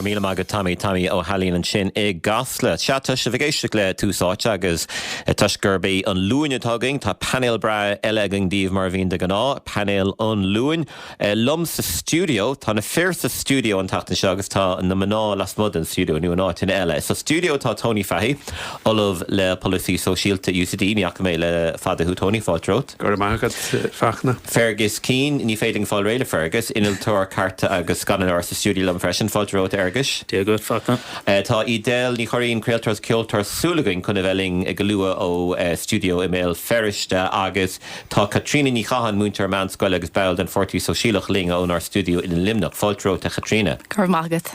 Go raibh míle maith agat Tommy, Tommy Ó hAilín ansin i gCasla. Sea, tá sibh ag éisteacht le Tús Áite agus toisc gurb é an Luain atá againn, tá painéal breá eile againn daoibh mar a bhíonn de ghnáth, painéal an Luain. Liom sa stiúideo, tá na fir sa stiúideo an tseachtain seo agus tá na mná lasmuigh den stiúideo nó in áiteanna eile. Sa stiúideo tá Tony Fahey, Ollamh le Polasaí Sóisialta UCD, ní fhaca mé le fada thú Tony, fáilte romhat. Go raibh maith agat, Fachtna. Fergus Keane, ní féidir liom fáil réidh le Fergus. Innealtóir cairte agus scannánóir sa stiúideo liom freisin. Fáilte romhat, a Fherguis. Dia dhuit, Fachtna. Tá Edel Ní Churraoin, craoltóir agus ceoltóir, súil againn chun a bheith linn go luath ónár stiúideo i mBéal Feirste. Agus tá Caitríona Ní Chatháin, múinteoir meánscoile agus ball den Pháirtí Sóisialach, linn ónár stiúideo i Luimneach. Fáilte romhat, a Chaitríona. Go raibh maith agat.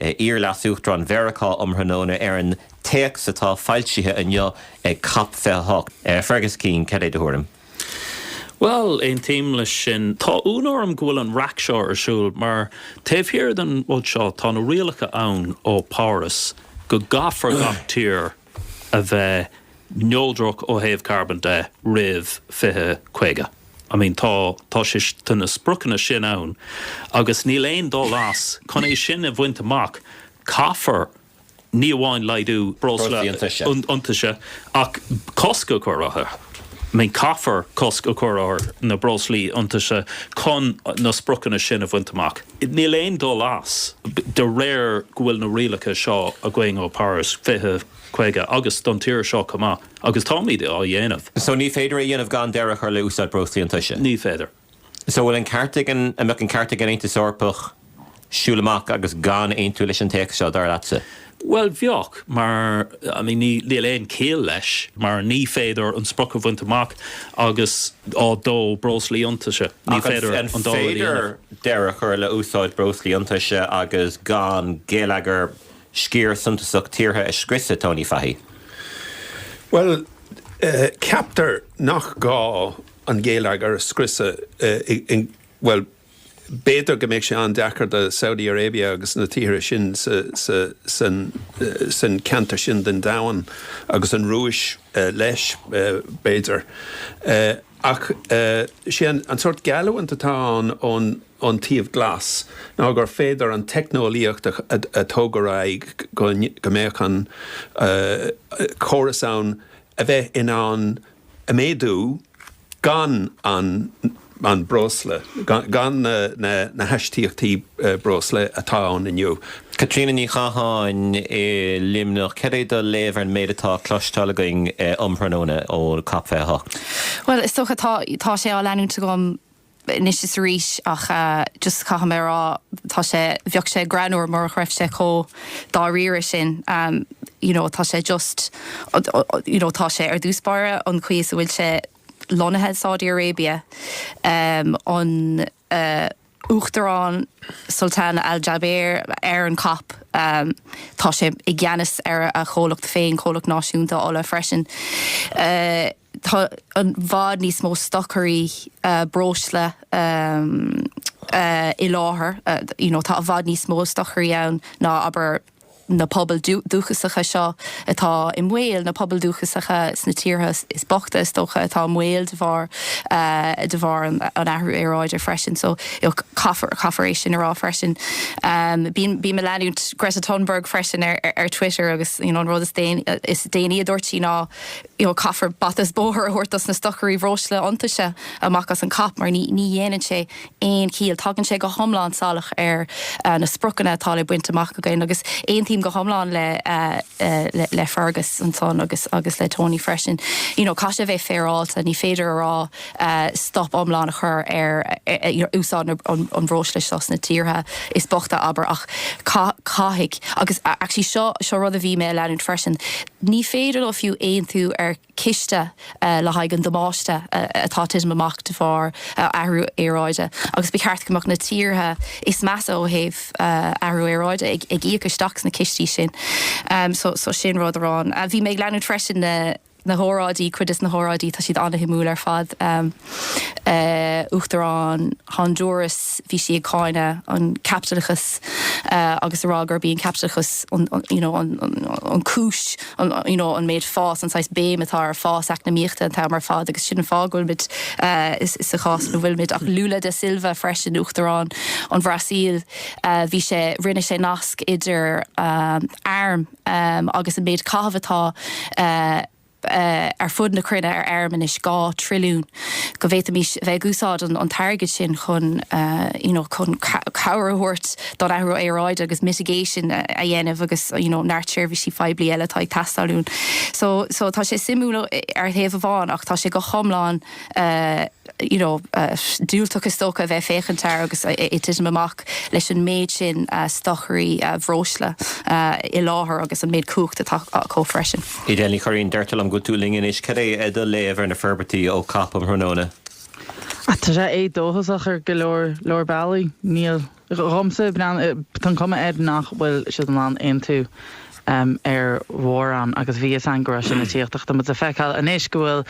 iar-leasuachtarán Mheiriceá um thráthnóna ar an téacs atá foilsithe inniu ag cop 28. Fergus Keane, cad é do thuairim? Bhuel, aontaím leis sin. Tá ionadh orm go bhfuil an raic seo ar siúl mar taobh thiar den rud seo tá na rialacha ann ó Páras go gcaithfear gach tír a bheith neodrach ó thaobh carbon de roimh 2050. I mean tá tá sé tá na spriocanna sin ann agus níl aon dul as chun é sin a bhaint amach caithfear ní amháin laghdú breosla iontaise ach cosc a chur orthu. I mean caithfear cosc a chur ar na breoslaí iontaise chun na spriocanna sin a bhaint amach. Níl aon dul as, de réir go bhfuil na rialacha seo againn ó Páras 20, 50 agus don tír seo chomh maith agus táimid á dhéanamh. So ní féidir é a dhéanamh gan deireadh a chur le úsáid breoslaí iontaise? Ní féidir. So an bhfuil an ceart ag an, an mbeadh an ceart ag an Aontas Eorpach siúl amach agus gan aontú leis an téacs seo, dar leatsa? Bhuel, bheadh, mar I mean níl aon chiall leis mar ní féidir an sprioc a bhaint amach agus á dó breoslaí iontaise. Ní féidir an dá rud a dhéanamh. Ach an féidir deireadh a chur le úsáid breoslaí iontaise agus gan geilleagar sciar suntasach tíortha a scriosadh, Tony Fahey? Bhuel, ceaptar nach gá an geilleagar a scriosadh, bhuel, B'fhéidir go mbeidh sé an-deacair do Saudi Arabia agus na tíortha sin san ceantar sin den domhan agus an Rúis leis b'fhéidir ach sé an sórt geallúint atá ann ón taobh glas ná gur féidir an teicneolaíocht a thabhairt ar aghaidh go, go mbeadh an córas ann a bheith in ann a mhéadú gan an, an breosla, gan na hastaíochtaí breosla atá ann inniu. Caitríona Ní Chatháin i Luimneach, cad é do léamh ar an méid atá le cloisteáil againn um thráthnóna ó cop 28? Bhuel, is dócha, tá, tá sé á leanúint agam anois is arís ach just caithfidh mé a rá tá sé bheadh sé greannúr murach raibh sé chomh dáiríre sin you know tá sé just you know tá sé ar dtús báire an chaoi is a bhfuil sé lonnaithe i Saudi Arabia an Uachtarán Sultan Al Jaber ar an COP tá sé i gceannas ar a chomhlacht féin comhlacht náisiúnta ola freisin. Tá i bhfad níos mó stocairí breosla i láthair, you know, tá i bhfad níos mó stocairí ann ná, abair, na pobail dúchasacha seo atá i mbaol, na pobail dúchasacha sna tíortha is bochta, is dócha, atá i mbaol de bharr, de bharr an athrú aeráide freisin. So, you know, caithfear, caithfear é sin a rá freisin. Bím, bím a' leanúint Greta Thunberg freisin ar, ar Twitter agus, you know, an rud is déanaí, is déanaí a dúirt sí ná, you know caithfear bata is bóthar a thabhairt dos na stocairí bhreosla iontaise amach as an COP mar ní ní dhéanann sé aon ciall. Tagann sé go hiomlán salach ar na spriocanna atá le baint amach againn agus aontaím go hiomlán le le le Fergus ansan agus agus le Tony freisin. You know caithfidh sé bheith féaráilte ní féidir a rá stop iomlán a chur ar you know úsáid na an bhreosla seo sna tíortha is bochta abair ach caith caithfidh agus actually seo seo rud a bhí mé a leanúint freisin Ní féidir leo fiú aontú ar chiste le haghaidh an damáiste atá ag titim amach de bharr athrú aeráide agus ba cheart go mbeadh na tíortha is measa ó thaobh athrú aeráide ag íoc isteach sna cistí sin. So sin rud amháin. Bhí mé ag leanúint freisin na hóráidí, cuid des na hóráidí, tá siad an-shuimiúil ar fad. Uachtarán Hondúras, bhí sí ag cáineadh an caipitleachas agus a rá gurb í an caipitleachas an you know an cúis an you know an méid fás an saghas béim atá ar fás eacnamaíochta an t-am ar fad agus sin an fáth go bhfuilimid sa chás ina bhfuilimid ach Lula da Silva freisin Uachtarán an Bhrasaíl bhí sé rinne sé nasc idir arm agus an méid caitheamh atá ar fud na cruinne ar airm anois, 2 trilliún, go bhféadfaimis a bheith ag úsáid an t-airgead sin chun you know chun cabhair a thabhairt don athrú aeráide agus mitigation a dhéanamh agus you know neart seirbhísí phoiblí eile atá ag teastáil uainn. So so tá sé suimiúil ar thaobh amháin ach tá sé go hiomlán eh you know diúltach is dócha a bheith ag féachaint air ag titim amach leis an méid sin stocairí bhreosla i láthair agus an méid cumhacht atá acu freisin. Edel Ní Churraoin, deirtear liom go bhfuil tú linn anois. Cad é a do léamh ar na forbairtí ó COP um thráthnóna? Tá sé dóchasach ar go leor leor bealaí. Dhomsa, bhuel, tá an cuma air nach bhfuil siad in ann aontú ar mhórán agus b'in sular tháinig sna tíortha tá muid ag feiceáil. Anois go bhfuil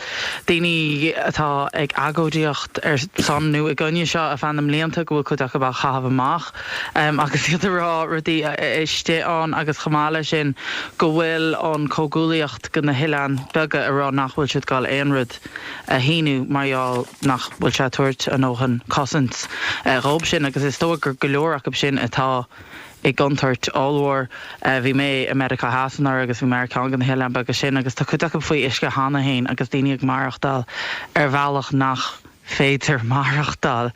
daoine atá ag agóidíocht ar son nó i gcoinne seo ar feadh na mblianta go bhfuil cuid acu á chaitheamh amach agus iad ag rá rudaí istigh ann agus chomh maith le sin go bhfuil an comhghuaillíocht dho na hoileáin beaga ag rá nach bhfuil siad ag gabháil aon rud. a shíniú mar gheall nach bhfuil sé ag tabhairt a ndóthain cosaint dhóibh sin agus is dóigh go leor acub sin atá i gcontúirt ollmhór. Bhí mé i Meiriceá Theas anuraidh agus bhí mé ar cheann de na hoileáin bheaga sin agus tá cuid acub faoi uisce cheana féin agus daoine ag maireachtáil ar bhealach nach féidir maireachtáil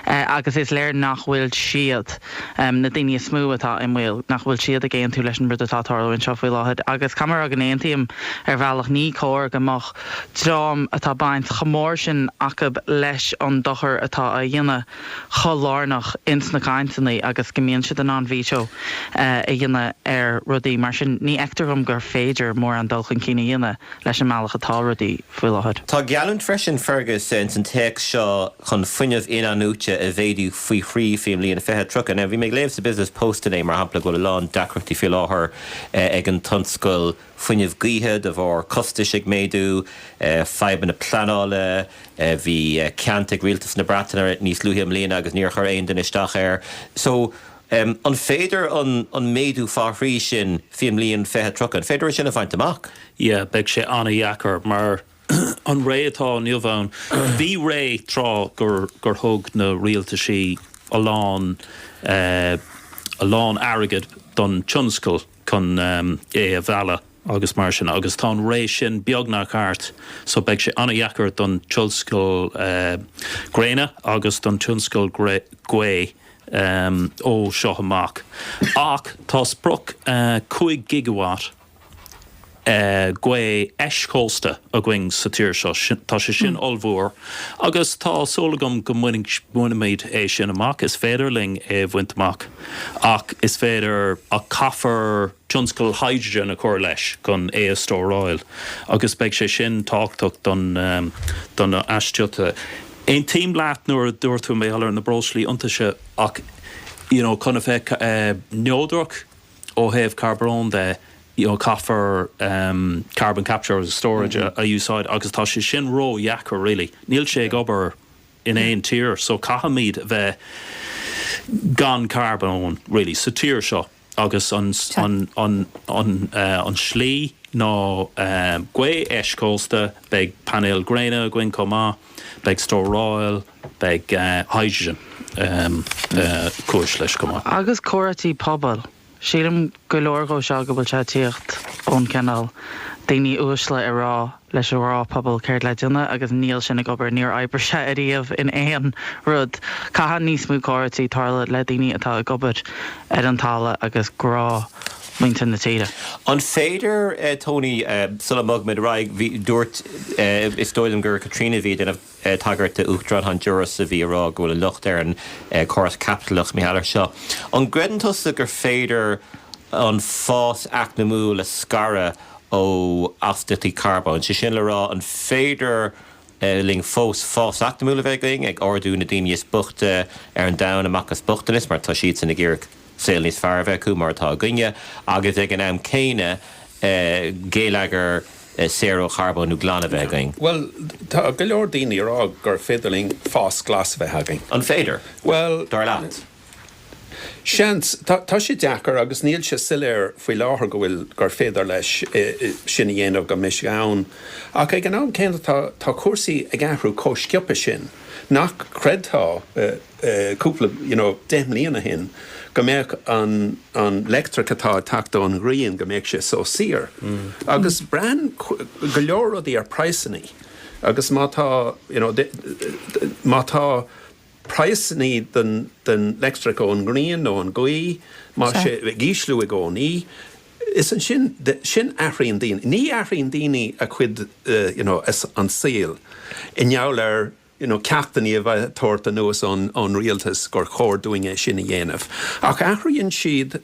agus is léir nach bhfuil siad, na daoine is mó atá i mbaol, nach bhfuil siad ag aontú leis an rud atá ag tarlú anseo faoi láthair agus caithfidh mé a rá go n-aontaím ar bhealach ní cóir go mbeadh dream a bhfuil baint chomh mór sin acu leis an dochar atá á dhéanamh chomh lárnach ins na cainteanna agus go mbíonn siad in ann veto a dhéanamh ar rudaí. Mar sin ní fheictear dhom gur féidir mórán dul chun cinn a dhéanamh leis an mbealach atá rudaí faoi láthair. Tá geallúint freisin, Fergus, ins an téacs seo chun fuinneamh in-athnuaite a mhéadú faoi thrí faoin mbliain 2030. Now bhí mé ag léamh sa Business Post inné mar shampla go bhfuil a lán deacrachtaí faoi láthair ag an tionscal, fuinnimh gaoithe de bharr costais ag méadú, fadhbanna pleanála, bhí ceant ag rialtas na Breataine níos luaithe i mbliana agus níor chuir aon duine isteach air. So, an féidir an méadú fá thrí sin fén mbliain 2030, an féidir é sin a bhaint amach? Yeah, beidh sé ana-dheacair mar an ré atá inniu ann, bhí ré tráth gur thug na rialtaisí a lán, a lán airgid don tionscal, chun é a mhealladh agus mar sin agus tá an ré sin beagnach thart so beidh sé an-deacair don tionscal gréine agus don tionscal gaoth ó seo amach ach tá sprioc 5 gigawatt gaoth eischósta againn sa tír seo, tá sé sin ollmhór agus tá súil agam go mbainfimid é sin amach. Is féidir linn é a bhaint amach agus is féidir, ach caithfear tionscal hydrogen a chur leis chun é a stóráil agus beidh sé sin tábhachtach don aistrithe. Aontaím leat nuair a dúirt tú mar gheall ar na breoslaí iontaise ach, you know, chun a bheith neodrach, Ó thaobh carbóin de, caithfear carbon capture agus storage a úsáid agus tá sé sin ró dheacair really. Níl sé ag obair in aon tír so caithfimid a bheith gan carbón really sa tír seo agus an slí ná gaoth eischósta, beidh painéil gréine againn chomh maith, beidh stóráil. Beidh hydrogen cúis leis chomh maith. Agus comhráití pobail. Sílim go leor dhó seo go bhfuil sé ag tíocht ón cineál daoine uaisle ag rá leis an ngnáthphobal céard atá le déanamh agus níl sin ag obair, níor oibrigh sé ariamh in aon rud. Caithfidh níos mó comhráití tarlú le daoine atá ag obair ar an talamh agus gnáthmhuintir na tíre. An féidir, Tony, sula mbogfaimid ar aghaidh, bhí, dúirt, is dóigh liom gur Caitríona a bhí ag déanamh, tagairt do Uachtarán Honduras a bhí ag rá go bhfuil an locht ar an gcóras caipitleach maidir leis seo. An gcreideann tusa gur féidir an fás eacnamaíoch a scaradh ó astaíochtaí carbóin? Sé sin le rá, an féidir linn fós fás eacnamaíoch a bheith againn, ag ardú na daoine is boichte ar an domhan amach as bochtanas, mar tá siadsan ag iarraidh? saol níos fearr a bheith acu mar atá againne agus ag an am céanna geilleagar saor ó charbón neodrach a bheith againn? Bhuel, tá go leor daoine ag rá gur féidir linn fás glas a bheith againn. An féidir, Bhuel, dar leat? seans. Tá sé deacair agus níl sé soiléir faoi láthair go bhfuil, gur féidir é sin a dhéanamh go mbeimis in ann ach ag an am céanna tá cúrsaí ag athrú chomh sciobtha sin nach gcreidfeá. cúpla you know deich mbliana ó shin go mbeadh an leictreach atá ag teacht ón ngrian go mbeadh sé so saor agus braitheann go leor rudaí ar phraghsanna agus má tá you know má tá praghsanna den den leictreach ón ngrian nó ón ngaoth má tá sé ag ísliú i gcónaí is ansin sin athraíonn daoine ní athraíonn daoine a gcuid you know an saol i ngeall ar you know ceachtanna a bheith á dtabhairt anuas ón ón rialtas gur chóir dúinn é sin a dhéanamh ach athraíonn siad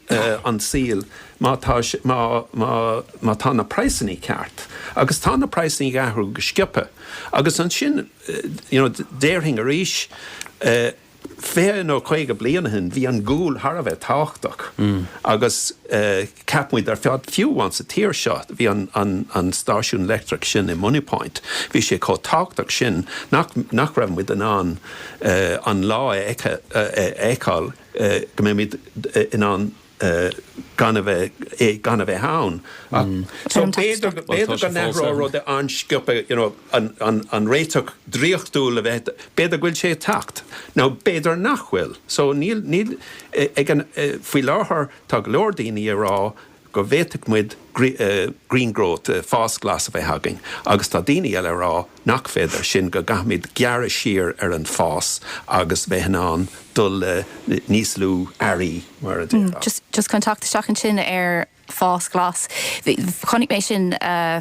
an saol má tá sé má má má tá na praghsanna ceart agus tá na praghsanna ag athrú go sciobtha agus ansin you know déarfainn arís eh Fiche nó caoga bliain ó shin bhí an gual thar a bheith tábhachtach agus cheap muid ar fad, fiú amháin sa tír seo, bhí an stáisiún leictreach sin i Moneypoint, bhí sé chomh tábhachtach sin nach raibh muid in ann an lá a fheiceáil go mbeimid in ann gan a bheith gan a bheith ann ach so b'fhéidir b'fhéidir go n-athróidh rudaí an-sciobtha you know an an an réiteach draíochtúil a bheith b'fhéidir go bhfuil sé ag teacht now b'fhéidir nach bhfuil so níl níl ag an faoi láthair tá go leor daoine ag rá go bhféadfadh muid green growth fás glas a bheith againn agus tá daoine eile ag rá Nach féidir sin, go gcaithfimid gearradh siar ar an fás agus bheith in ann déileáil le níos lú earraí, mar a déarfá? Just chun teacht isteach ansin ar fás glas. Chonaic mé sin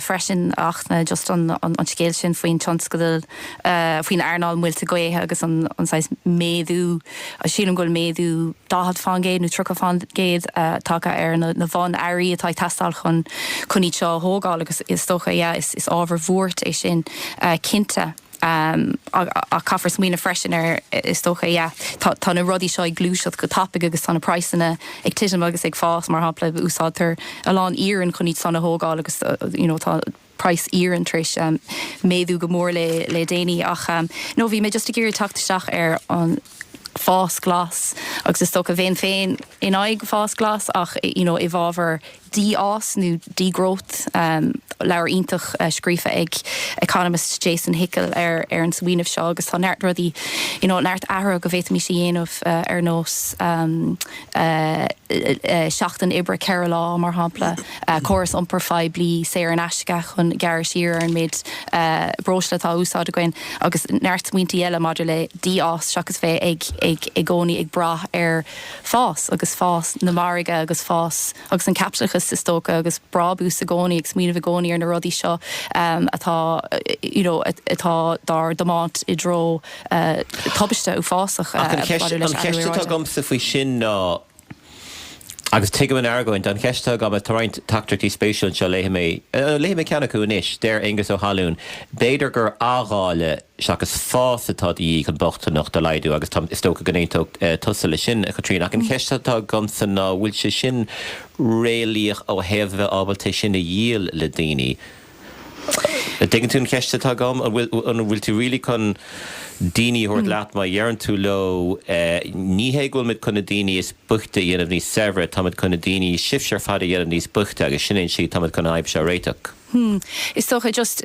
freisin ach ní just an scéal sin faoin tionscadal, faoin earnáil muilte gaoithe agus an saghas méadú, Sílim go bhfuil méadú 40% nó 30% tagtha ar na bunearraí atá ag teastáil chun iad seo a thógáil agus is dócha yeah is ábhar buartha é sin cinnte ach caithfear smaoineamh freisin ar is dócha yeah tá na rudaí seo ag gluaiseacht go tapaigh agus tá na praghsanna ag titim agus ag fás mar shampla úsáidtear a lán iarainn chun iad sin a thógáil agus you know tá price iarainn tar éis méadú go mór le déanaí ach no bhí mé just ag iarraidh teacht isteach ar an fás glas agus is dócha bhéinn féin in aghaidh fás glas ach you know i bhfábhar dí-fhás nó degrowth leabhar iontach scríofa ag economist Jason Hickel ar ar an smaoineamh seo agus tá neart rudaí you know neart athruithe go bhféadfaimis a dhéanamh ar nós seachtain oibre ceithre lá mar shampla córas iompair phoiblí saor in aisce chun gearradh siar ar an méid breosla atá á úsáid againn agus neart smaointí eile maidir le dí-fhás seachas bheith ag i gcónaí ag brath ar fás agus fás na margaidh agus fás agus an caipitleachas is dócha agus brábús i gcónaí ag smaoineamh i gcónaí ar na rudaí seo atá you know atá dár dtiomáint i dtreo tubaiste uafásach. An cheist atá agamsa faoi sin ná. Agus tuigim an argóint. An cheist atá agam, tá roinnt teachtaireachtaí spéisiúil anseo, léifidh mé, léifidh mé ceann acu anois. Deir Aonghus Ó hAnluain, B'fhéidir gur athdháileadh seachas fás atá de dhíth chun bochtanacht a laghdú agus táim, is dócha go n-aontódh tusa leis sin, a Chaitríona. Ach an cheist atá agamsa ná an bhfuil sé sin réalaíoch ó thaobh a bheith ábalta é sin a dhíol le daoine? An dtuigeann tú an cheist atá agam? An bhfuil, an bhfuil tú really chun daoine a thabhairt leat má deireann tú leo ní hé go bhfuil muid chun na daoine is boichte a dhéanamh níos saibhre, tá muid chun na daoine, sibhse ar fad a dhéanamh níos boichte agus sin é an slí, tá muid chun an fhadhb seo a réiteach. Hmm. Is dócha, just,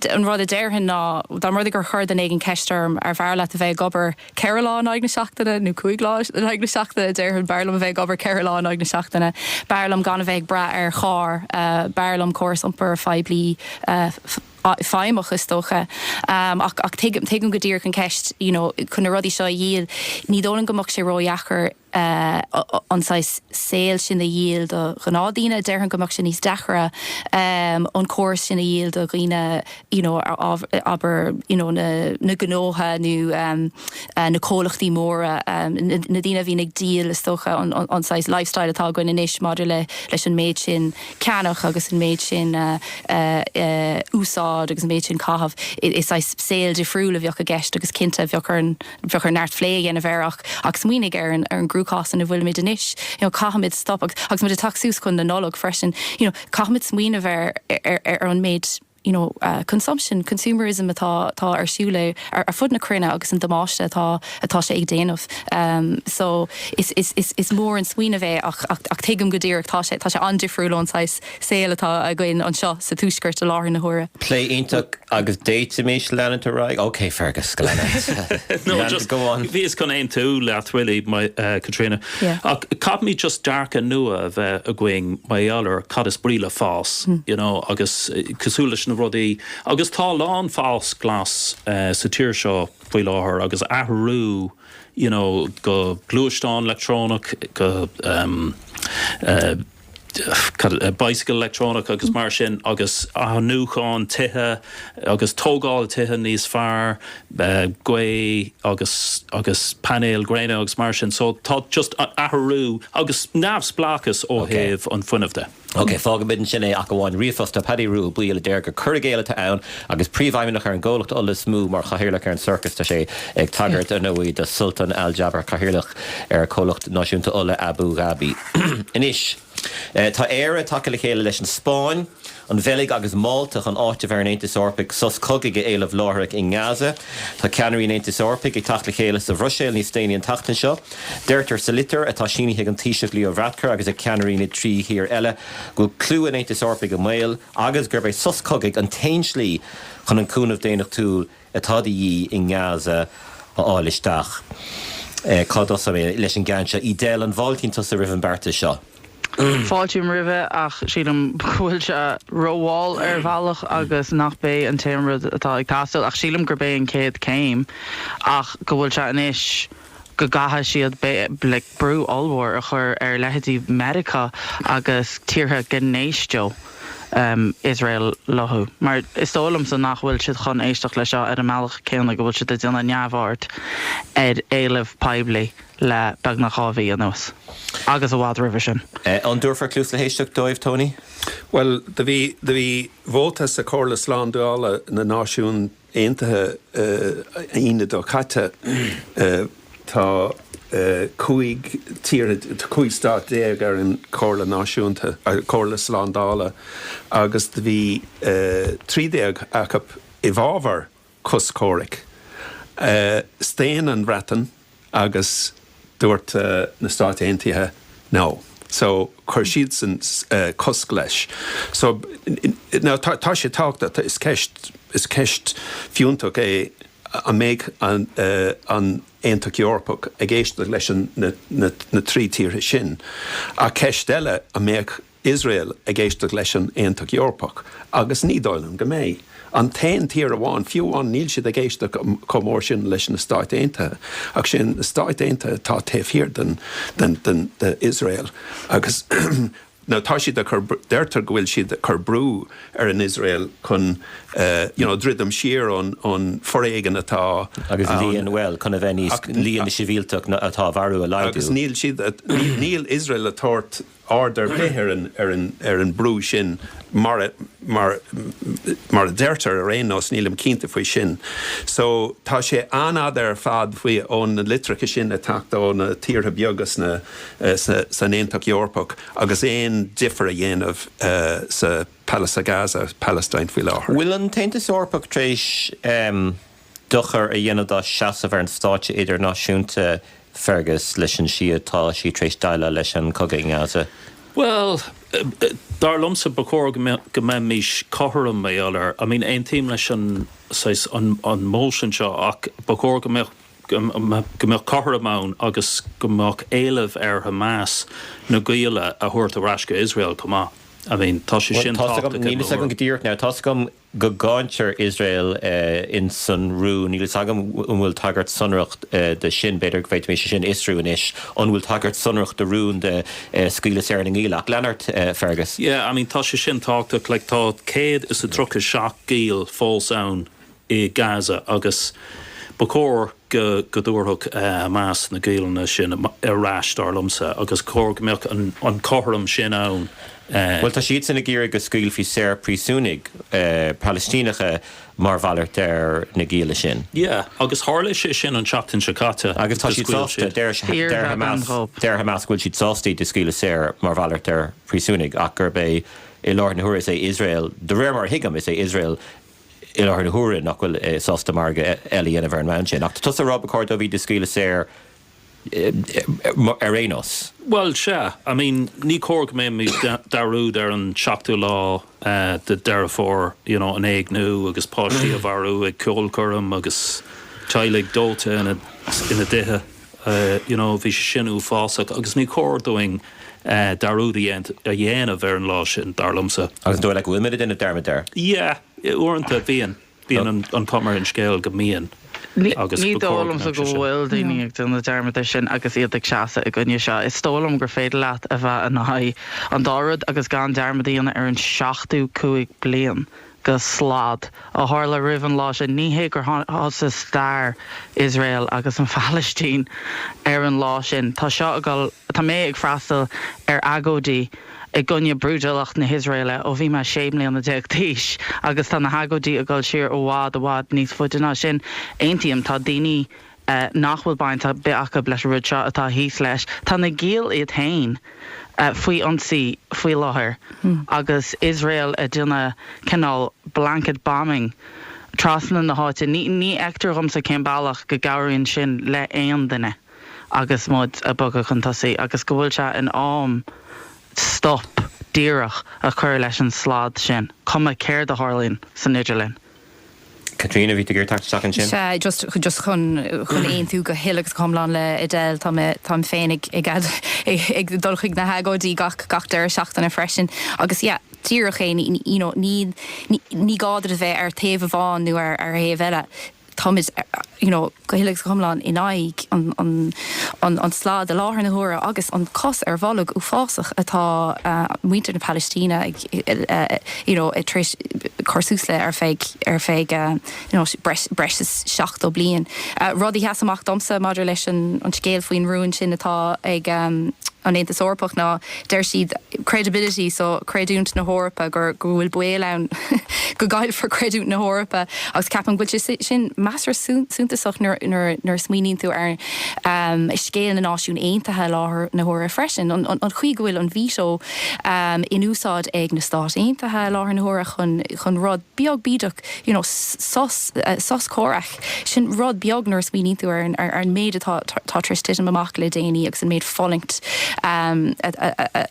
an rud a déarfainn ná, dá mba rud é gur chuir duine éigin ceist orm, arbh fhearr leat a bheith ag obair, ceithre lá in aghaidh na seachtaine nó cúig lá in aghaidh na seachtaine déarfainn. B'fhearr liom a bheith ag obair ceithre lá in aghaidh na seachtaine. B'fhearr liom gan a bheith ag brath ar charr. B'fhearr liom córas iompair phoiblí feidhmeach is dócha. Ach tuigim go díreach an cheist, you know, chun na rudaí seo a dhíol ní dóigh liom go mbeadh sé ródheacair. eh, an saghas saol sin a dhíol do ghnáthdhaoine, déarfainn go mbeadh sé sin níos deacaire ehm, an córas sin a dhíol do dhaoine you know a a abair you know na na gnótha nó ehm eh na comhlachtaí móra ehm na daoine a bhíonn ag díol is dócha an an an saghas lifestyle atá againn anois maidir le leis an méid sin ceannach agus an méid sin eh eh eh úsáid agus an méid sin caitheamh i i saghas saoil difriúil a bheadh i gceist agus cinnte bheadh orainn bheadh ar neart plé a dhéanamh air ach smaoinigh ar an gcruachás ina bhfuilimid anois you know caithfimid stop agus muid ag teacht suas chun na Nollag freisin you know caithfimid smaoineamh ar ar an méid you know consumption, consumerism atá atá ar siúl ar fud na cruinne agus an damáiste atá atá sé ag déanamh ehm so is is is is mór an smaoineamh é ach ach ach tuigim go díreach tá sé tá sé an-difriúil ón saghas saol atá againn anseo sa Tuaisceart i láthair na huaire. Plé iontach agus d'fhéadfaimis leanúint ar aghaidh. Ok Fergus, go on. Go on. Bhíos chun aontú leat really Caitríona ach caithfimid just dearcadh nua a bheith againn mar gheall ar cad is brí le fás you know agus cosúil leis na rudaí agus tá a lán fás glas sa tír seo faoi láthair agus athrú you know go gluaisteán leictreonach go eh bicycle electronic agus mar sin agus athnuachan tithe agus tógáil tithe níos fearr gaoth agus agus painéil gréine agus mar sin so tá just athrú agus neamhspleáchas ó thaobh an fhuinnimh de. Ok fágaimid ansin é ach amháin ríomhphost ó Paddy Rua Uí Bhaoill a deir gur cur i gcéill atá ann agus príomhfheidhmeannach ar an gcomhlacht ola is mó mar chathaoirleach ar an circus tá sé ag tagairt ar ndóigh do Sultan Al Jaber cathaoirleach ar comhlacht náisiúnta ola Abú Dhaibí. Anois tá Éire tagtha le chéile leis an Spáinn, an Bheilg agus Málta chun áiteamh ar an Aontas Eorpach sos cogaidh a éileamh láithreach i nGaza. Tá ceannairí an Aontais Eorpaigh ag teacht le chéile sa Bhruiséil níos déanaí an tseachtain seo. Deirtear sa litir, atá sínithe ag an Taoiseach Leo Varadkar agus ag ceannairí na dtrí thír eile, go bhfuil clú an Aontais Eorpaigh i mbaol agus gurb é sos cogaidh an t-aon slí chun an cúnamh daonnachtúil atá de dhíth i nGaza a fháil isteach. Cá dtosaíonn mé leis an gceann seo? Edel, an bhfáiltíonn tusa roimh an beartas seo? Fáiltím roimhe ach sílim go bhfuil sé rómhall ar bhealach agus nachb é an t-aon rud atá ag teastáil ach sílim gurb é an chéad céim ach go bhfuil sé anois go gcaithfidh siad brú ollmhór a chur ar leithéidí Meiriceá agus tíortha go n-éisteodh Iosrael leofa, mar is dóigh liomsa nach bhfuil siad chun éisteacht leis seo ar an mbealach céanna go bhfuil siad ag déanamh neamhaird ar éileamh poiblí le beagnach dhá mhí anuas, agus i bhfad roimhe sin. An dtabharfar cluas le héisteacht dóibh, Tony? Bhuel, do bhí do bhí vóta sa Chomhairle Slándála na Náisiún Aontaithe Aoine seo caite tá cúig tír, cúig stáit déag ar an Chomhairle Náisiúnta, Comhairle Slándála agus bhí trí déag acu i bhfabhar sos comhraic. Staon an Bhreatain. agus dúirt na Stáit Aontaithe no so chuir siadsan cosc leis so now tá sé tábhachtach is ceist is ceist fiúntach é an mbeidh an an Aontacht Eorpach ag éisteacht leis an na na trí tíortha sin ach ceist eile an mbeidh Iosrael ag éisteacht leis an Aontacht Eorpach agus ní dóigh liom go mbeidh. An t-aon tír amháin, fiú amháin níl siad ag éisteacht chomh mór sin leis na Stáit Aontaithe, ach sin na Stáit Aontaithe atá taobh thiar d'Iosrael agus now tá siad ag cur, deirtear go bhfuil siad ag cur brú ar an Iosrael chun you know druidim siar ón foréigean atá Agus líon, bhuel, chun a bheith níos, líon na sibhialtach atá á marú a laghdú. Agus níl siad, níl Iosrael ag tabhairt aird ar bith ar an brú sin mar a deirtear, ar aon nós nílim cinnte faoi sin. So tá sé an-fhada ar fad ó na litreacha sin ag teacht ó na tíortha beaga san Aontacht Eorpach agus aon difear a dhéanamh sa Palais, i Gaza, Palestine faoi láthair. Bhfuil an tAontas Eorpach tar éis dochar a dhéanamh dá seasamh ar an stáitse idirnáisiúnta, Fergus, leis an slí atá sí tar éis déileáil leis an cogadh i nGaza? Bhuel, dar liomsa, ba chóir go mbeimís cothrom maidir le, I mean, aontaím leis an, saghas, an motion seo ach ba chóir go mbeadh, go mbeadh cothrom ann agus go mbeadh éileamh ar Hamas na gialla a thabhairt ar ais go Iosrael chomh maith. I mean, tá sé sin tábhachtach i mo thuairim. Níl fhios agam go díreach now, tá's agam go gcáintear Iosrael ins an rún. Níl fhios agam an bhfuil tagairt sonrach dó sin, b'fhéidir go bhféadfaimis sin a fhiosrú anois, an bhfuil tagairt sonrach do rún do scaoileadh saor na ngiall. Ach lean ort, Fergus. Yeah, I mean tá sé sin tábhachtach, like tá céad is a tríocha seacht giall fós ann i Gaza agus ba chóir, go dtabharfadh Hamas na giallanna sin ar ais, dar liomsa, agus cóir go mbeadh an cothrom sin ann. Bhuel, tá siadsan ag iarraidh go scaoilfí saor príosúnaigh Palaistíneacha mar mhalairt ar na gialla sin. Yeah, agus tharla sé sin an tseachtain seo caite. Agus tá siad sásta, deir Hamas go bhfuil siad sásta iad a scaoileadh saor mar mhalairt ar phríosúnaigh ach gurb é, i láthair na huaire, is é Iosrael, de réir mar a thuigim, is é Iosrael i láthair na huaire nach bhfuil sásta margadh eile a dhéanamh ar an mbonn sin. Ach tusa a rá ba chóir dóibh iad a scaoileadh saor ar aon nós? Bhuel, sea. I mean, ní cóir go mbeimid dearúd ar an seachtú lá de Deireadh Fómhair, you know, an éigniú agus páistí a mharú ag ceolchoirm agus teaghlaigh dóite ina dtithe. you know bhí sé sin uafásach agus ní cóir dúinn dearúd a dhéanamh ar an lá sin, dar liomsa. Agus an dóigh leat go bhfuil muid ag déanamh dearmad air? Yeah, uaireanta bíonn, bíonn an chuma ar an scéal go mbíonn agus ba chóir go mbeadh sé sin. Ní dóigh liomsa go bhfuil daoine ag déanamh dearmad air sin agus iad ag seasamh i gcoinne seo. Is dóigh liom gur féidir leat a bheith in aghaidh an dá rud agus gan dearmad a dhéanamh ar an seachtó cúig bliain. de shlad a tharla roimh an lá sin. Ní hé gur thosaigh stair Iosrael agus an Phalaistín ar an lá sin. Tá seo ag dul, tá mé ag freastal ar agóidí i gcoinne brúidiúlacht na hIosraeile ó bhí mé sé mbliana déag d'aois agus tá na hagóidí ag dul siar i bhfad, i bhfad níos faide ná sin. Aontaím, tá daoine. nach bhfuil baint ar bith acu leis an rud seo atá thíos leis. Tá na gialla iad féin faoi ionsaí faoi láthair agus Iosrael ag déanamh cineál blanket bombing trasna na háite. Ní fheictear dhomsa cén bealach go gcabhraíonn sin le haon duine agus muid ag bogadh chun tosaigh agus go bhfuil sé in am stop díreach a chur leis an slad sin, cuma céard a tharlaíonn san idirlinn. Caitríona, bhí tú ag iarraidh teacht isteach ansin. Sea, just, just chun, chun aontú go huile agus go hiomlán le Edel, tá mé, táim féin ag, ag, ag dul chuig na hagóidí gach, gach deireadh seachtaine freisin agus yeah, díreach é, ní, you know, ní, ní, ní gá duit a bheith ar taobh amháin nó ar, ar thaobh eile, táimid ar, you know go huile agus go hiomlán in aghaidh an slad i láthair na huaire agus an cos ar bholg uafásach atá muintir na Palaistíne ag you know tar éis cur suas le ar feadh ar feadh you know breis is seachtó bliain. Rud a sheas amach domsa maidir leis an scéal faoin rún sin atá ag an Aontas Eorpach ná deir siad credibility so creidiúint na hEorpa gur, go bhfuil baol ann go gcaillfear creidiúint na hEorpa agus ceapaim go bhfuil sé sin measartha suntasach nuair, nuair, nuair a smaoiníonn tú ar scéal na Náisiún Aontaithe i láthair na huaire freisin, an, an chaoi go bhfuil an veto in úsáid ag na Stáit Aontaithe i láthair na huaire chun, chun rud beag bídeach you know sos, sos comhraic. Sin rud beag nuair a smaoiníonn tú ar an méid atá tar éis titim amach le déanaí agus an méid fulaingt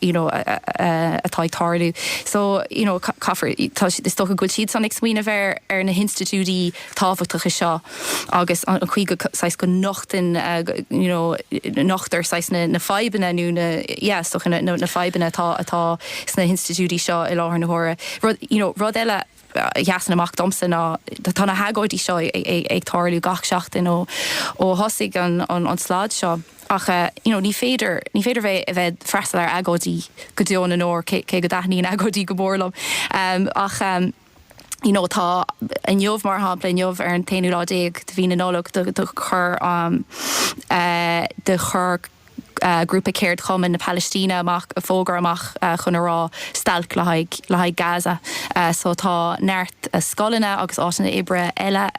you know atá ag tarlú. So you know caithfear, is dócha go bhfuil siad san ag smaoineamh ar na hinstitiúidí tábhachtacha seo agus an chaoi go saghas go nochtann you know nochtar saghas na fadhbanna nó na yeah is dócha na fadhbanna atá sna hinstitiúidí seo i láthair na huaire. Rud you know rud eile, sheasann amach domsa ná tá na hagóidí seo ag tarlú gach seachtain ó thosaigh an slad seo ach you know ní féidir ní féidir bheith a bheith freastal ar agóidí go deo na ndeor cé cé go dtaitníonn agóidí go mór liom um ach um you know tá inniu mar shampla inniu ar an t-aonú lá déag de mhí na Nollag do chuir um uh, do chuir grúpa ceardchumainn na Palaistíne amach fógra amach chun a rá stailc le haghaidh le haghaidh Gaza so tá neart scoileanna agus áiteanna oibre eile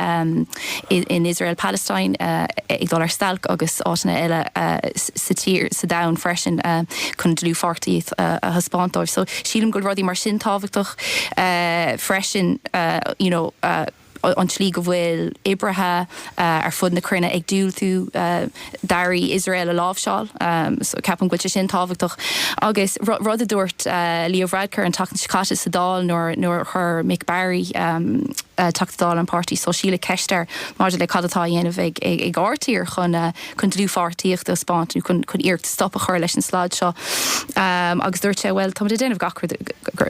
in Israel Palestine ag dul ar stailc agus áiteanna eile sa tír sa domhan freisin chun dlúthpháirtíocht a thaispeáint dóibh so sílim go bhfuil rudaí mar sin tábhachtach freisin you know. an tslí go bhfuil oibrithe ar fud na cruinne ag diúltú d'earraí Iosrael a láimhseáil. So ceapaim go bhfuil sé sin tábhachtach. Agus rud a dúirt Leo Varadkar an tseachtain seo caite sa Dáil nuair a chuir Mick Barry, Teachta Dála an Pháirtí Sóisialaigh, ceist air maidir le cad atá á dhéanamh ag ár dtír chun chun dlúthpháirtíocht a thaispeáint chun iarracht stop a chur leis an slad seo agus dúirt sé, bhuel, táimid ag déanamh gach rud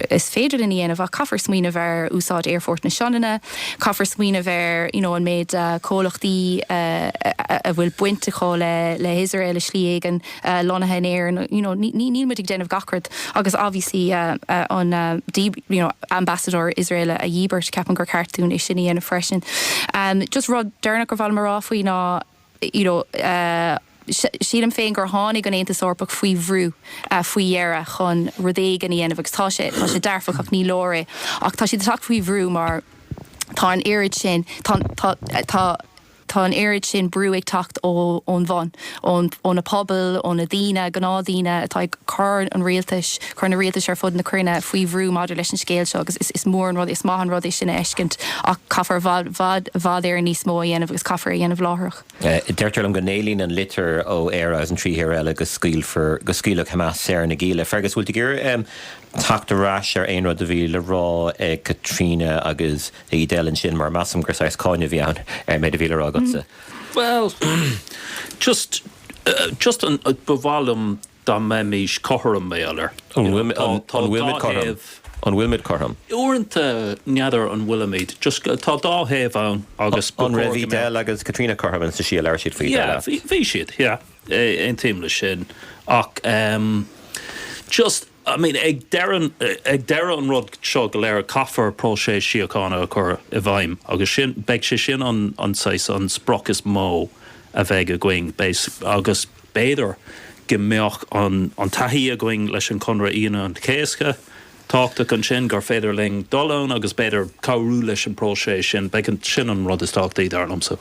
is féidir linn a dhéanamh ach caithfear smaoineamh ar úsáid Aerfort na Sionainne, caithfear smaoineamh ar you know an méid comhlachtaí a bhfuil baint acu le Israel i slí éigin lonnaithe in Éirinn, you know níl muid ag déanamh gach rud agus obviously an you know ambasadóir Israel a dhíbirt, ceapaim gur ceart dúinn é sin a dhéanamh freisin. Just rud deireanach gur mhaith liom a rá faoi ná, you know Sílim féin gur tháinig an tAontas Eorpach faoi bhrú faoi dheireadh chun rud éigin a dhéanamh agus tá sé tá sé dearfach ach ní leor é ach tá siad ag teacht faoi bhrú mar tá an oiread sin tá tá tá tá an oiread sin brú ag teacht ó ón bhun ón ó na pobail ó na daoine gnáthdhaoine atá ag cur an rialtais cur na rialtais ar fud na cruinne faoi bhrú maidir leis an scéal seo agus is mór an rud, is maith an rud é sin a fheiscint ach caithfear i bhfad, bhfad, bhfad níos mó a dhéanamh agus caithfear é a dhéanamh láithreach. Deirtear liom go n-éilíonn an litir ó Éire agus an trí thír eile go scaoilfear, go scaoilfeadh Hamas saor na gialla. Fergus, bhfuil tú ag iarraidh teacht ar ais ar aon rud a bhí le rá ag Caitríona agus ag Edel ansin mar measaim gur saghas cáineadh a bhí ann ar an méid a bhí le rá agatsa? Bhuel, just, just an, ba mhaith liom dá mbeimís cothrom, mar, you know, tá, tá dá thaobh. An bhfuilimid cothrom? Uaireanta n'fheadar an bhfuilimid, just tá dá thaobh ann agus ba chóir go mbeadh. An raibh Edel agus Caitríona cothrom ins an slí a labhair siad faoi dar leat? Yeah, bhí siad, yeah, aontaím leis sin ach just, I mean, ag deireadh, ag deireadh an rud seo go léir caithfear próiseas síochána a chur i bhfeidhm agus sin, beidh sé sin an, an saghas, an sprioc is mó a bheidh againn, beidh, agus. B'fhéidir go mbeadh an taithí againn leis an conradh Aoine an Chéasta. Tábhachtach ansin gur féidir linn dul ann agus b'fhéidir cabhrú leis an bpróiseas sin. Beidh sin an rud is tábhachtaí dar liomsa.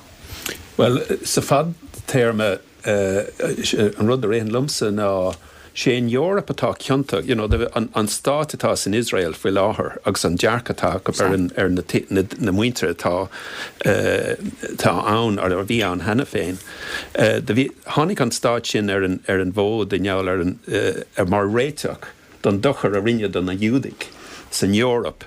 Bhuel, sa fadtéarma, an rud a ritheann liomsa ná 'sé an Eoraip atá ciontach, you know, an stáit atá san Iosrael faoi láthair agus an dearcadh atá acu ar na muintir atá ann, a bhí ann cheana féin. Tháinig an stáit sin ar an, ar an bhfód i ngeall ar an, mar réiteach don dochar a rinneadh do na Giúdaigh san Eoraip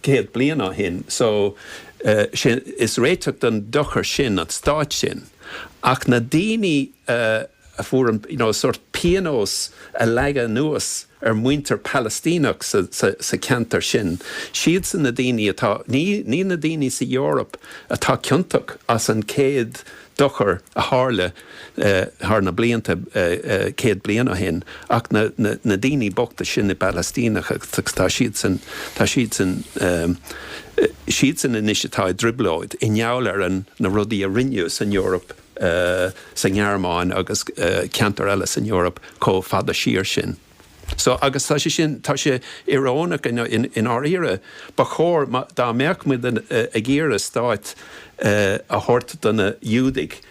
céad bliain ó shin. So, 'sé, is réiteach don dochar sin an stáit sin. Ach na daoine a fuair an, you know, sórt pionós a leagadh anuas. ar muintir Palaistíneach sa ceantar sin. Siadsan na daoine atá, ní, ní na daoine sa Eoraip atá ciontach as an chéad dochar a tharla thar na blianta, céad bliain ó shin, ach na, na, na daoine bochta sin i bPalaistíneach agus tá siadsan, tá siadsan, siadsan anois atá i dtrioblóid i ngeall ar an, na rudaí a rinneadh san Eoraip. sa nGearmáin agus ceantair eile san Eoraip chomh fada siar sin. So agus tá sé sin, tá sé ioróineach i ndáiríre. Ba chóir, dá mbeadh muid ag iarraidh stáit a thabhairt do na Giúdaigh,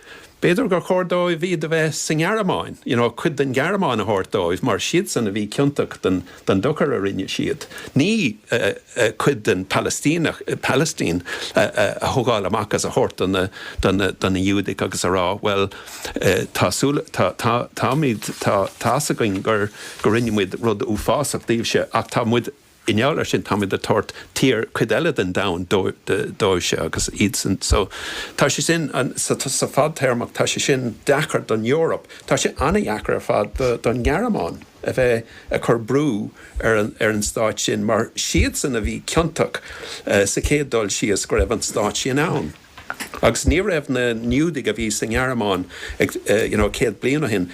b'fhéidir gur chóir dóibh iad a bheith sa nGearmáin, you know, cuid den Ghearmáin a thabhairt dóibh mar siadsan a bhí ciontach den, den dochar a rinne siad. Ní cuid den Palaistíneach, Palestine, a thógáil amach is a thabhairt do na Giúdaigh agus a rá, bhuel, tá súil, táimid, tá fhios againn gur rinne muid rud uafásach daoibhse ach tá muid, i ngeall ar sin, táimid ag tabhairt tír, cuid eile den domhan dóibhse agus iadsan. So, tá sé sin, sa fadtéarmach, tá sé sin deacair don Eoraip, tá sé an-deacair ar fad don Ghearmáin. a bheith ag cur brú ar an stát sin mar siadsan a bhí ciontach sa chéad dul síos go raibh an stát sin ann. Agus ní raibh na Giúdaigh a bhí sa nGearmáin you know céad bliain ó shin,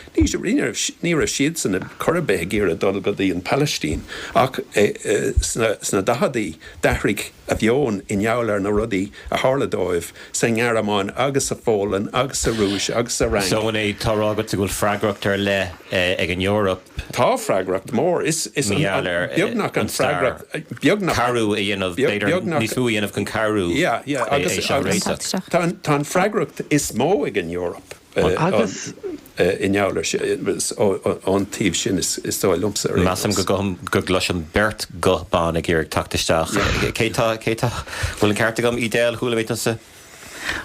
ní raibh siadsan ar chor ar bith ag iarraidh dul go dtí an Phalaistín ach sna daicheadaí d'athraigh a meon i ngeall ar na rudaí a tharla dóibh sa nGearmáin agus sa Pholainn agus sa Rúis agus sa Fhrainc. So, an bhfuil tú a rá, agatsa go bhfuil freagracht ar leith ag an Eoraip. Tá freagracht mhór, is an, beagnach an freagracht, beagnach. Cabhrú a dhéanamh, b'fhéidir níos mó a dhéanamh chun cabhrú é seo a réiteach. Tá an freagracht is mó ag an Eoraip. Agus. i ngeall ar an taobh sin is dóigh liomsa ar aon nós. Measaim go gcloisim beirt ghuth ban ag iarraidh teacht isteach. Cé tá? Cé tá? Bhfuil an ceart agam, Edel? Chuala mé tusa.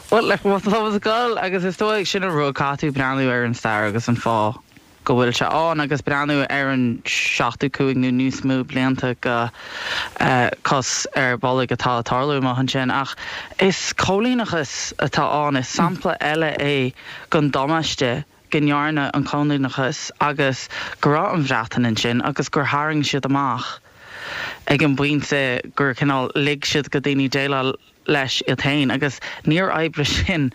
Bhuel, like, tá mé ar an scoil agus is dóigh liom sin an rud, caithfidh tú breathnú ar an stair agus an fáth. go bhfuil sé ann agus breathnú ar an seachtú cúig nó níos mó blianta de chos ar bolg atá ag tarlú amuigh ansin. Ach is coilíneachas atá ann. Is sampla eile é den damáiste go ndearna an coilíneachas agus go raibh an Bhreatain ansin agus gur tharraing siad amach ag an bpointe gur cineál lig siad do dhaoine déileáil leis iad féin agus níor oibrigh sin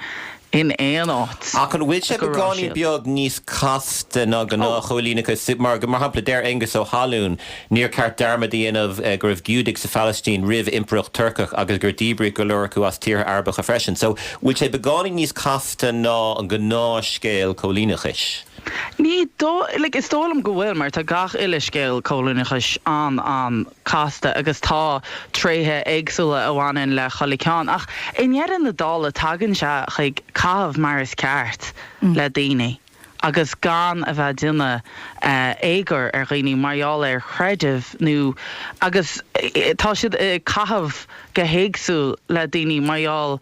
in aon áit Ach an bhfuil sé beagáinín beag níos casta ná gnáthchoilíneachas, mar shampla deir Aonghus Ó hAlmhain níor cheart dearmad a dhéanamh go raibh Giúdaigh sa Phalaistín roimh impireacht Turcach agus gur díbríodh go leor acu as tíortha Arabacha freisin. So bhfuil sé beagáinín níos casta ná an gnáthscéal coilíneachais? Ní dóigh, like is dóigh liom go bhfuil mar tá gach uile scéal coilíneachais an-an, casta agus tá tréithe éagsúla a bhaineann le chuile ceann ach i ndeireadh na dála tagann sé chuig caitheamh mar is ceart le daoine agus gan a bheith déanamh éagoir ar dhaoine mar gheall ar chreideamh nó agus tá siad ag caitheamh go héagsúil le daoine mar gheall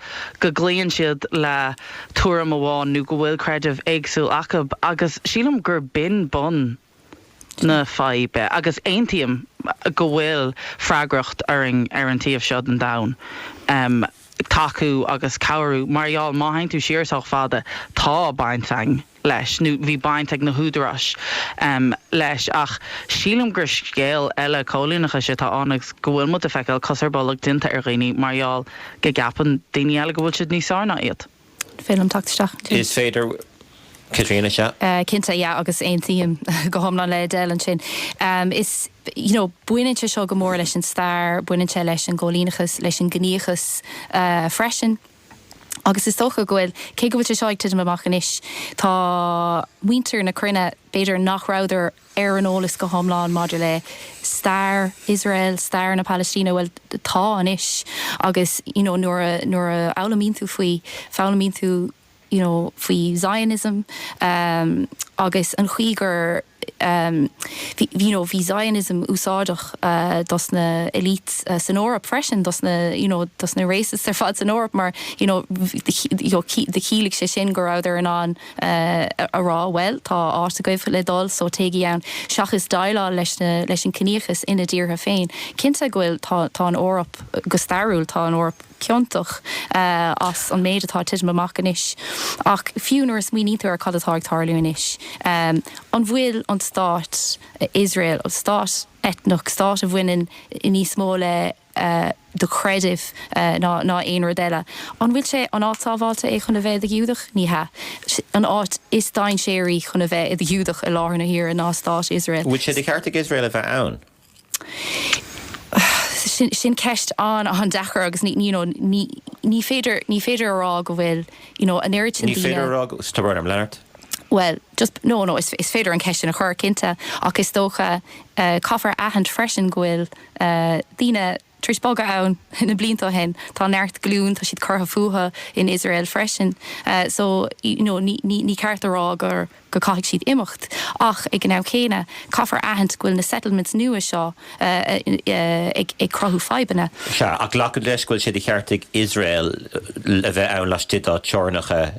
go gcloíonn siad le tuairim amháin nó go bhfuil creideamh éagsúil acub agus sílim gur b'in bun na faidhbe agus aontaím go bhfuil freagracht orainn ar an taobh seo den domhan tacú agus cabhrú mar gheall má théann tú siar sách fada tá baint againn leis nó bhí baint ag na húdaráis leis ach sílim gur scéal eile coilíneachais atá ann agus go bhfuil muid ag feiceáil cos ar bolg déanta ar dhaoine mar gheall go gceapann daoine eile go bhfuil siad níos fearr ná iad. An féidir liom teacht isteach ansin? Is féidir, Caitríona, sea. Cinnte, yeah agus aontaím go hiomlán le Edel ansin. Is, you know, baineann sé seo go mór leis an stair, baineann sé leis an gcoilíneachas, leis an gciníochas freisin agus is dócha go bhfuil, cé go bhfuil sé seo ag titim amach anois, tá muintir na cruinne b'fhéidir nach rabhadar ar an eolas go hiomlán maidir le stair Iosrael, stair na Palaistíne, bhuel tá anois agus you know nuair a, nuair a fhoghlaimíonn tú faoi, foghlaimíonn tú you know faoi Zionism ehm agus an chaoi gur ehm bhí, you know bhí Zionism úsáideach dos na elites san Eoraip freisin, dos na you know dos na racists ar fad san Eoraip mar you know do chiallaigh sé sin go rabhadar in ann. a rá, bhuel, tá áit agaibh le dul so téigí ann, seachas déileáil leis na, leis an ciníochas ina dtíortha féin. Cinnte go bhfuil, tá, tá an Eoraip, go stairiúil, tá an Eoraip ciontach as an méid atá ag titim amach anois. Ach fiú nuair a smaoinítear ar cad atá ag tarlú anois, an bhfuil an stát Iosrael, stát eitneach, stát a bhaineann níos mó le, do chreidimh ná aon rud eile. An bhfuil sé an áit sábháilte é chun a bheith i do Ghiúdach? Ní hea. An áit is dainséaraí chun a bheith i do Ghiúdach i láthair na huaire ná Stát Iosrael. An bhfuil sé de cheart ag Iosrael a bheith ann? Sin ceist an-an-deacair agus ní you know ní ní féidir ní féidir a rá go bhfuil you know an oiread sin daoine. Ní féidir a rá go. Stop orm. Lean ort. Bhuel just no no is féidir an ceist sin a chur cinnte ach is dócha caithfear a aithint freisin go bhfuil. daoine tar éis bogadh ann na blianta ó shin. Tá neart glúin, tá siad curtha fúthu in Iosrael freisin. So you know ní ní ceart a rá gur go caithfidh siad imeacht ach ag an am céanna caithfear a aithint go bhfuil na settlements nua seo ag ag cruthú fadhbanna. Sea, ach glacaim leis go bhfuil sé de cheart ag Iosrael a bheith ann laistigh dá teorainneacha.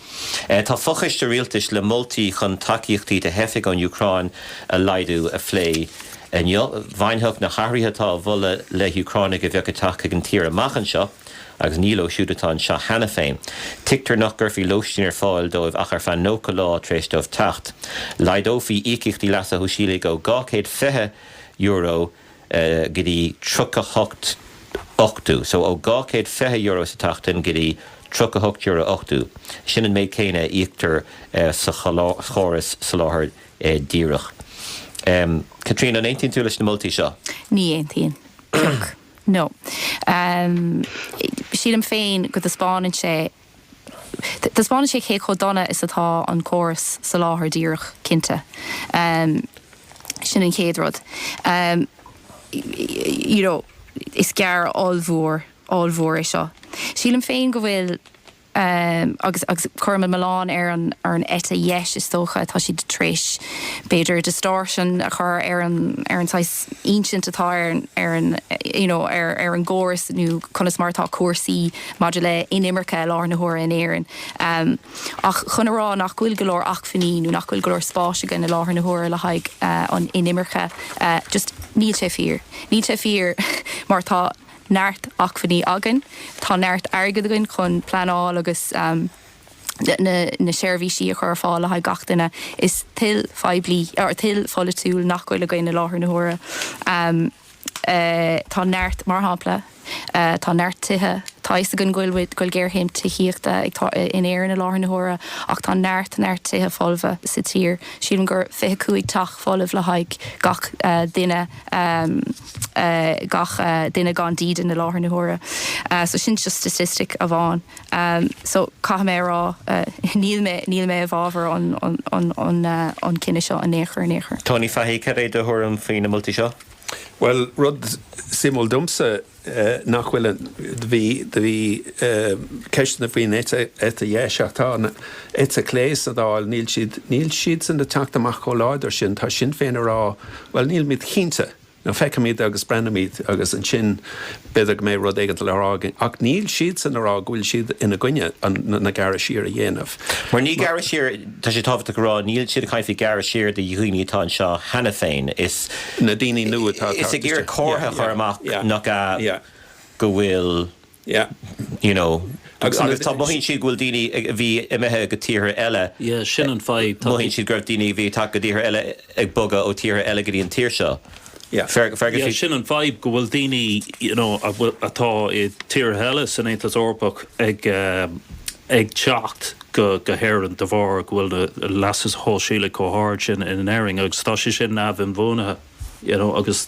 Tá fochoiste rialtais le moltaí chun tacaíochtaí do theifigh ón Úcráin a laghdú a phlé. Bhainfeadh na hathruithe atá á mholadh le hÚcránaigh a bheadh ag teacht chuig an tír amach anseo agus ní leo siúd atá anseo cheana féin. Tuigtear nach gcuirfí lóistín ar fáil dóibh ach ar feadh 90 lá tar éis dóibh teacht. Laghdófaí íocaíochtaí leasa shóisialaigh ó €220 go dtí 38 ochtú, so ó €220 sa tseachtain go dtí €38 ochtú, sin an méid céanna a íoctar sa chóras soláthar díreach. Caitríona, an aontaíonn tú leis na moltaí seo? Ní aontaím. No. Sílim féin go dtaispeánann sé Taispeánann sé cé chomh dona is atá an córas soláthar díreach, cinnte. Sin an chéad rud. You know, is gearr ollmhór, ollmhór é seo. Sílim féin go bhfuil, agus, agus cuirim an milleán ar an, ar an eite dheis is dócha, tá siad tar éis b'fhéidir distortion a chur ar an, ar an saghas ínsint atá ar an, ar an, you know, ar, ar an gcóras nó conas mar atá cúrsaí. maidir le inimirce i láthair na huaire in Éirinn ach chun a rá nach bhfuil go leor acmhainní nó nach bhfuil go leor spáis againn i láthair na huaire le haghaidh an inimirce just níl sé fíor. Níl sé fíor mar tá neart acmhainní againn, tá neart airgead againn chun pleanáil agus na seirbhísí a chur ar fáil le haghaidh gach duine. Is toil phoiblí, toil pholaitiúil nach bhfuil againn i láthair na huaire. tá neart, mar shampla, tá neart tithe, tá a fhios againn go bhfuil géarchéim tithíochta in Éirinn i láthair na huaire ach tá neart, neart tithe folmha sa tír. Sílim gur 25 teach folamh le haghaidh gach duine, gach duine gan dídean i láthair na huaire. So sin just statistic amháin. Um so caithfidh mé a rá uh níl mé níl mé i bhfabhar an an an an uh an cinneadh seo in aon chor in aon chor. Tony Fahey, cad é do thuairim faoi na moltaí seo? Bhuel rud suimiúil domsa eh nach bhfuil an, bhí bhí eh ceisteanna faoin eite dheis ach tá an eite chlé sa Dáil níl siad níl siadsan ag teacht amach chomh láidir sin tá Sinn Féin ag rá bhuel nílimid cinnte nó feicfimid agus breathnóimid agus ansin b'fhéidir go mbeidh rud éigin le rá againn. Ach níl siadsan ag rá go bhfuil siad ina gcoinne na gearradh siar a dhéanamh. Mar ní gearradh siar, tá sé tábhachtach a rá, níl siad ag caint faoi ghearradh siar do dhaoine atá anseo cheana féin. Na daoine nua atá ag teacht isteach. Is ag iarraidh comhartha a chur amach nach ea, go bhfuil. Yeah, you know, agus agus tá, mothaíonn siad go bhfuil daoine ag, a bhí imithe go tíortha eile, Yeah, sin an fadhb. mothaíonn siad go raibh daoine a bhí tagtha go tíortha eile ag bogadh ó tíortha eile go dtí an tír seo. Yeah. Fer, Fergus, Yeah, bhí. sin an fadhb, go bhfuil daoine, you know, a bhfuil, atá i tíortha eile san Aontas Eorpach ag ag teacht go, go hÉireann de bharr go bhfuil an leas sóisialach chomh hard sin in Éirinn agus tá sé sin neamh-inbhuanaithe, you know, agus.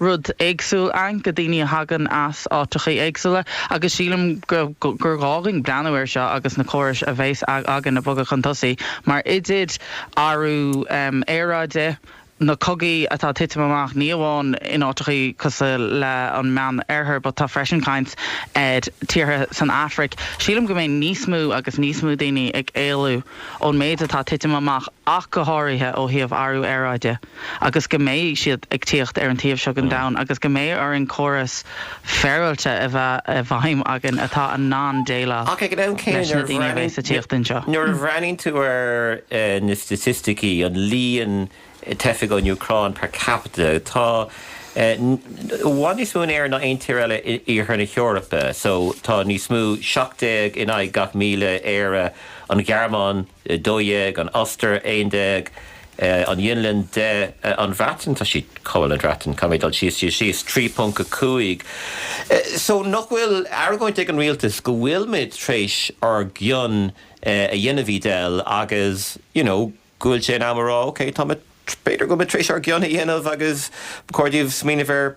rud éagsúil ann go daoine a thagann as áiteachaí éagsúla agus sílim gur gá dhúinn breathnú air seo agus na córais a bheas againn a bhogadh chun tosaigh mar idir athrú aeráide, na cogaí atá ag titim amach ní amháin in áiteachaí cosuil le an Meán Oirthear but tá freisin i gcaint tíortha san Afraic, sílim go mbeidh níos mó agus níos mó daoine ag éalú ón méid atá ag titim amach ach go háirithe ó thaobh athrú aeráide. agus go mbeidh siad ag tíocht ar an taobh seo den domhan agus go mbeidh orainn córas féaráilte a bheith i bhfeidhm againn atá in ann déileáil leis na daoine a bheas ag tíocht anseo. Ach ag an am céanna, nuair a bhreathnaíonn, nuair a bhreathnaíonn tú ar na staitisticí, an líon teifigh ón Úcráin per capita, tá i bhfad níos mó in Éirinn ná aon tír eile in iarthar na hEorpa. So tá níos mó, 17 in aghaidh gach 1,000, Éire, an Ghearmáin, 12, an Ostair, 11, an Fhionlainn, 10, an Bhreatain, tá siad, cá bhfuil an Bhreatain, caithfidh mé dul síos, síos, síos, 3.5 so nach bhfuil argóint ag an rialtas go bhfuil muid tar éis ár gcion a dhéanamh Edel agus you know go bhfuil sé in am a rá ok tá muid b'fhéidir go bhfuil muid tar éis ár gcion a dhéanamh agus ba chóir daoibh smaoineamh ar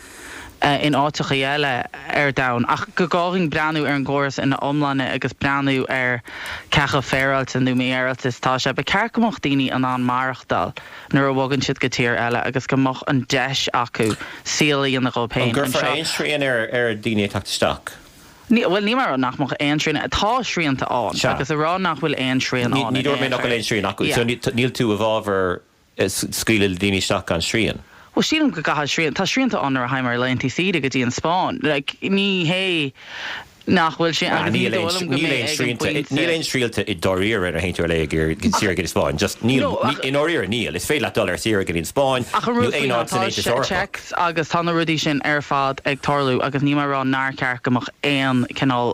in áiteachaí eile ar domhan, ach go gcaithfinn breathnú ar an gcóras ina iomláine agus breathnú ar cé acu féaráilte nó mífhéaráilte is atá sé. Ba cheart go mbeadh daoine in ann maireachtáil nuair a bhogann siad go tír eile agus go mbeadh an deis acu saol a dhéanamh dhóibh féin anseo. An gcuirfear aon srian ar dhaoine ag teacht isteach? Ní, bhuel, níl mé a rá nach mbeadh aon srian. Tá srianta ann. Sea. Agus a rá nach bhfuil aon srian ann in aon chor. Ní, ní dúirt mé nach bhfuil aon srian acu. Yeah. So, níl, níl tú i bhfábhar scaoileadh le daoine isteach gan srian. Bhuel sílim go gcaithfidh srian, tá srianta ann nuair a théann muid ar laethanta saoire go dtí an Spáinn. Like ní hé nach bhfuil srian, agus ní dóigh liom go mbeidh ag an pointe. Níl aon srianta i ndáiríre ar éinne dul ar saoire go dtí an Spáinn. Just níl, i ndáiríre níl. Is féidir leat dul ar saoire go dtí an Spáinn nó aon áit san Aontas Eorpach. Agus tá na rudaí sin ar fad ag tarlú agus níl mé a rá nár cheart go mbeadh aon cineál,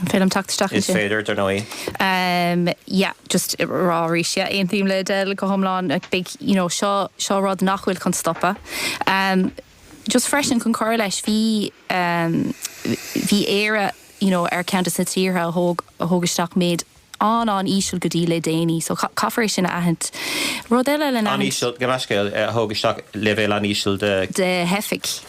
An féidir liom teacht isteach ansin? Is féidir, dar ndóigh. Em yeah just ag rá arís yeah aontaím le Adele go hiomlán like beidh you know seo seo rud nach bhfuil chun stopadh. Em just freisin chun cur leis bhí em bhí Éire you know ar cheann de na tíortha a thóg a thóg isteach méid an-an-íseal go dtí le déanaí so caithfear é sin a aithint. Rud eile le n-aithint. An-íseal, gabh mo leithscéal, a thóg isteach leibhéal an-íseal de, de theifigh,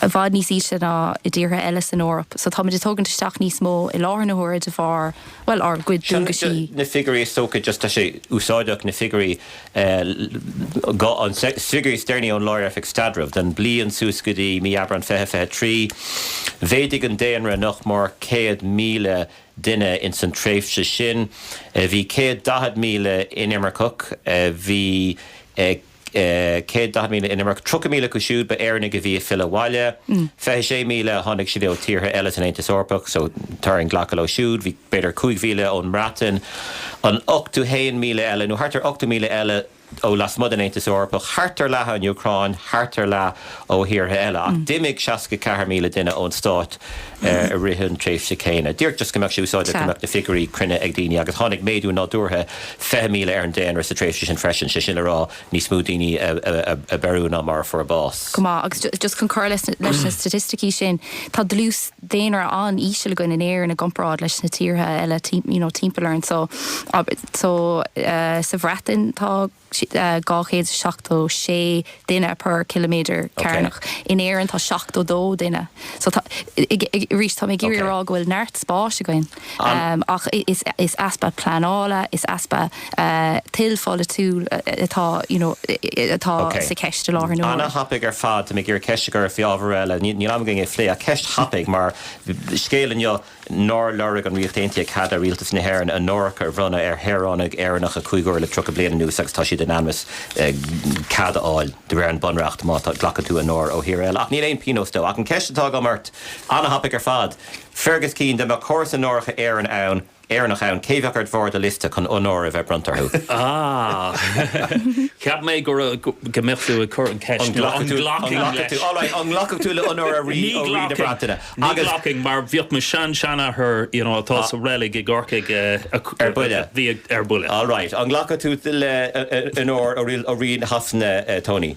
i bhfad níos ísle ná i dtíortha eile san Eoraip. So táimid ag tógaint isteach níos mó i láthair na huaire de bharr, bhuel, ár gcuid dualgaisí. Seo na figiúirí is dócha just tá sé úsáideach na figiúirí go na figiúirí is deireanaí ón Lár-Oifig Staidrimh don bhliain suas go dtí mí Aibreán 2023. Mhéadaigh an daonra nach mór 100,000 duine ins an tréimhse sin. Bhí céad daichead míle inimirceach. Bhí céad daichead míle inimirceach. Tríocha míle acu siúd ba Éireannaigh a bhí ag filleadh abhaile. Fiche sé míle tháinig siad ó thíortha eile san Aontas Eorpach, so tá orainn glacadh leo siúd. Bhí b'fhéidir cúig mhíle ón mBreatain. An ochtó haon míle eile nó thart ar ochtó míle eile, ó lasmuigh den Aontas Eorpach, thart ar leath ón Úcráin, thart ar leath ó thíortha eile. Ach d'imigh 64,000 duine ón stát i rith an tréimhse céanna. Díreach just go mbeadh sé úsáideach, go mbeadh na figiúirí cruinne ag daoine. Agus tháinig méadú nádúrtha 20,000 ar an daonra sa tréimhse sin freisin, sé sin le rá níos mó daoine a beiriú ná mar a fuair bás. Go maith. Agus just chun cur leis na staitisticí sin, tá dlús daonra an-íseal againn in Éirinn i gcomparáid leis na tíortha eile you know timpeall orainn so so sa Bhreatain tá 276 duine per ciliméadar cearnach in Éirinn tá 72 duine so tá arís tá mé ag iarraidh a rá go bhfuil neart spáis againn. An. Ach is easpa pleanála, is easpa toil pholaitiúil atá you know atá Ok. sa cheist i láthair na huaire. Ana thapaidh ar fad. Tá mé ag iarraidh ceist a chur faoi ábhar eile. Níl am againn é a phlé ach ceist thapaidh mar scéal inniu nár lorg an Ríocht Aontaithe cead ó Rialtas na hÉireann onóracha a bhronnadh ar shaoránaigh Éireannacha cúig uaire le tríocha bliain anuas agus tá siad in ainm is cead a fháil de réir an Bunreacht má tá glacann tú onóir ó thír eile ach níl aon pionós dó. Ach an ceist atá agam ort, ana thapaidh ar fad, Fergus Keane, Dá mbeadh córas onóracha Éireann ann, Éireannach ann, cé bheadh ar bharr do liosta, chun onóir a bheith bronnta orthu? Ah! Cheap mé go raibh, go mbeadh tú ag cur an ceist nó an nglacfainn leis. All right, an nglacfadh tú le onóir ó Rí, ó Rí na Breataine? Ní ghlacfainn mar bhíodh mo shean-seanathair, you know, atá sa reilig i gCorcaigh, ar buile. Bhí ar buile. All right, an nglacfadh tú le onóir ó Rí Shasana, Tony?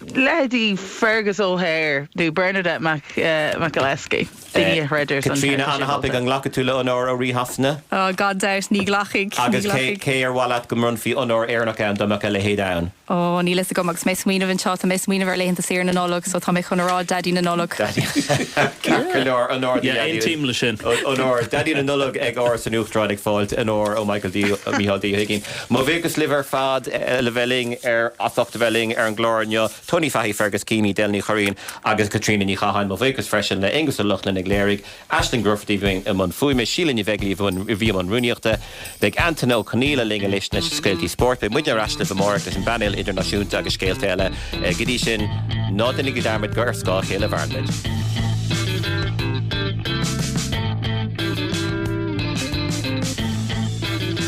leithéidí Fergus O'Hare nó Bernadette McAliskey, daoine a chreidtear san Caitríona Ana thapaidh, an nglacfadh tú le onóir ó Rí Shasana? Oh gan dabht, ní ghlacfaidh, ní ghlacfaidh. Agus cé ar mhaith leat go mbronnfaí onóir Éireannach ann dá mbeadh a leithéid ann? Oh níl fhios agam, agus mé ag smaoineamh anseo, tá mé ag smaoineamh ar laethanta saoire na Nollag so tá mé chun a rá Daidí na Nollag. Daidí. Ceart go leor, onóir do Yeah, Dhaidí. aontaím le sin. Onóir, Daidí na Nollag ag Áras an Uachtaráin ag fáilt onóir ó Michael D, Micheál D Ó hUigínn. Mo bhuíochas libh ar fad le bheith linn ar, as ucht a bheith linn ar an gclár inniu, Tony Fahey, Fergus Keane, Edel Ní Churraoin agus Caitríona Ní Chatháin. Mo bhuíochas freisin le Aonghus Ó Lochlainn a léirigh, Aisling Grufferty a bhí i mbun fuaime, Síle Ní Bheaglaoich a bhí i mbun rúnaíochta. Beidh Antaine Ó Conaola linn anois leis na scéaltaí spóirt. Beidh muidne ar ais libh amárach leis an bPainéal Idirnáisiúnta agus scéalta eile. Go dtí sin, ná déanaigí dearmad gur ar scáth a chéile a mhaireann muid.